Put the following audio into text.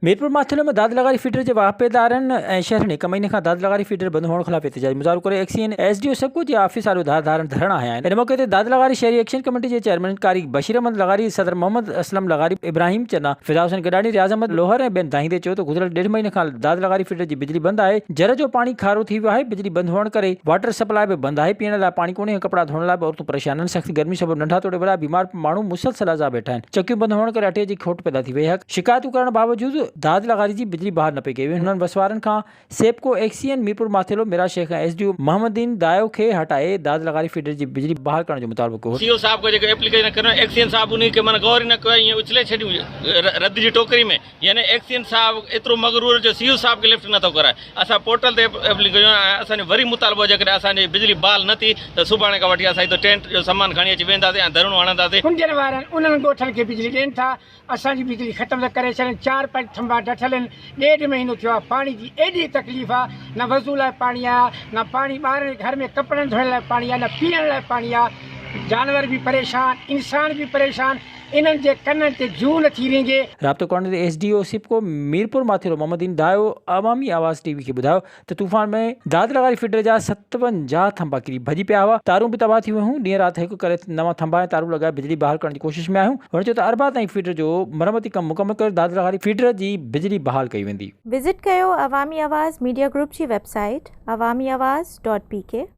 ميرپور ماٿيلو ۾ داد لغاري فيڊر جي واهپيدارن ۽ شهرين هڪ مهيني کان داد لغاري فيڊر بند هئڻ خلاف احتجاجي مظاهرو ڪري XEN S D O SEPCO جي آفيس آڏو ڌار ڌارن ڌرڻا هنيا آهن ان موقعي تي داد لغاري شهري ايڪشن ڪميٽي جي چيئرمين قاري بشير احمد لغاري صدر محمد اسلم لغاري ابراهيم چنا فدا حسين گڏاڻي رياض احمد لوهر ۽ ٻين دانهيندي چيو ته گذريل ڏيڍ مهيني کان داد لغاري فيڊر جي بجلي بند آهي جر جو پاڻي کارو ٿي ويو آهي بجلي بند هئڻ ڪري واٽر سپلاء به بند آهي پيئڻ لاء پاڻي ڪونهي ۽ ڪپڙا ڌوئڻ لاء به عورتون پريشان آهن سخت گرمي سبب ننڍا توڙي وڏا بيمار ماڻهو مسلسل اذا ويٺا آهن چڪيون بند هئڻ ڪري اٽي جي کوٽ پيدا ٿي وئي هڪ شڪايتون ڪرڻ باوجود داد لغاري جي بجلي بحال نه پئي ڪئي وئي هنن وسوارن کان سيپڪو ايڪسيئن ميرپور ماٿيلو ميرا Shaikh ۽ S D O Muhammadin Dayo کي هٽائي داد لغاري فيڊر جي بجلي بحال ڪرڻ جو مطالبو ڪيو هو. سي او صاحب کي جيڪو ايپليڪيشن ڪرڻ ايڪسيئن صاحب انهي کي معنيٰ غور ئي نه ڪيو ۽ اڇلي ڇڏيون رد جي ٽوڪري ۾ يعني ايڪسين صاحب ايترو مغرور جو سي او صاحب کي لفٽ نٿو ڪرائي اسان پورٽل تي ايپليڪيشن ۽ اسان جو وري مطالبو جيڪڏهن اسان جي بجلي بحال نه ٿي ته سڀاڻي کان وٺي اسان هتي ٽينٽ جو سامان کڻي اچي ويهنداسين ۽ ڌرڻو هڻنداسين. ڪنڊين وارن انهن ڳوٺن کي بجلي ڏين ٿا اسان جي بجلي ختم ٿا ڪري ڇڏين چار پنج ٿنڀا ڊٺل آهن ڏيڍ مهينو ٿيو آهي پاڻي جي ايڏي تڪليف آهي نه وضو لاء پاڻي آهي نه پاڻي ٻارن جي گهر ۾ ڪپڙن ڌوئڻ لاء پاڻي آهي نه پيئڻ لاء پاڻي آهي جانور به پريشان انسان به پريشان انهن جي ڪنن تي جون اچي رينگي. رابطو ڪرڻ تي S D O SEPCO Mirpur Mathelo Muhammad Din Dayo عوامي آواز ٽي وي کي ٻڌايو ته طوفان ۾ داد لغاري فيڊر جا ستونجاهه ٿنڀا ڪري ڀڄي پيا هئا، تارون به تباهه ٿي ويون، ڏينهن رات هڪ ڪري نوان ٿنڀا ۽ تارون لڳائي بجلي بحال ڪرڻ جي ڪوشش ۾ آهيون، هن چيو ته اربع تائين فيڊر جو مرمتي ڪم مڪمل ڪري داد لغاري فيڊر جي بجلي بحال ڪئي ويندي. وزٽ ڪيو عوامي آواز ميڊيا گروپ جي web site Awami Awaz dot P ڪي.